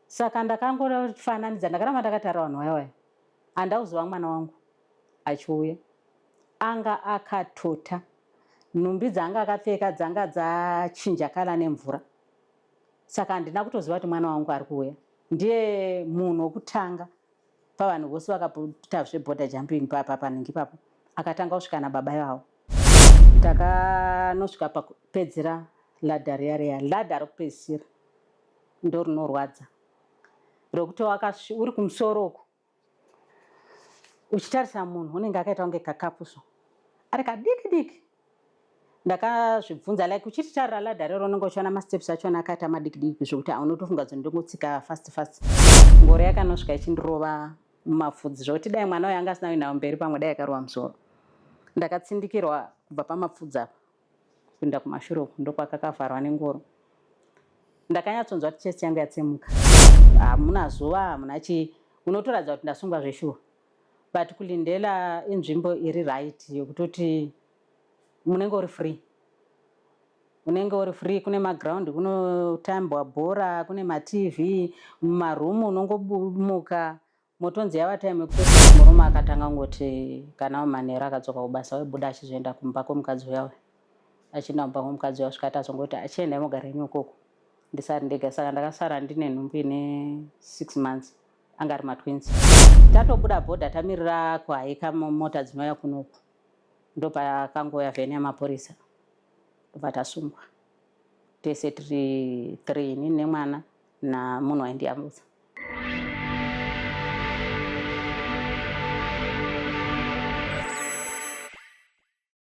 Saka ndakangofananidza ndakaramba ndakatarira vanhu vaya vaya handina kuzova mwana wangu achiuya anga akatota nhumbi dzaanga akapfeka dzanga dzachinja kala nemvura saka handina kutoziva kuti mwana wangu ari kuuya ndiye munhu wokutanga pavanhu vose vakaita zveborder jumping papa panhingi papo akatanga kusvika nababa ivavo takanosvika pakupedzera ladha riya riya ladha rokupedzisira ndorinorwadza rokuti wakasvi uri kumusoro uku uchitarisa munhu unenge akaita kunge kakapuso ari kadiki diki ndakazvibvunza like uchiti tarira ladha rero unenge uchiona masteps achona akaita madiki diki zvekuti aunotofunga kuti ndongotsika fast fast ngoro yakanosvika ichindirova mumapfudzi zvokuti dai mwana uyo anga asina uinawo mberi pamwe dai akarova musoro ndakatsindikirwa kubva pamapfudzi apa Kupinda kumashure uku ndokwakakavharwa nengoro. Ndakanyatsonzwa kuti chest yangu yatsemuka. Hamuna zuva, hamuna chii. Unotoratidza kuti ndasungwa zveshuwa. But kuLindela inzvimbo iri right yokutoti munenge uri free. Unenge uri free, kune maground kunotambwa bhora, kune maTV, mumaroom unongobumuka Motonzi yava time yekupedzisa murume akatanga ngoti kana manheru akadzoka kubasa waibuda achizoenda kumba kwemukadzi uya uya achienda kumba kwemukadzi uya svikati azongoti achienda imogara ini ukoko ndisari ndega saka ndakasara ndine nhumbu ine six months anga ari matwins tatobuda bhodha tamirira kuhaika mota dzinouya kunoku ndopakangouya vheni yamapurisa ndobva tasungwa tese tiri three ini nemwana namunhu waindiyambutsa.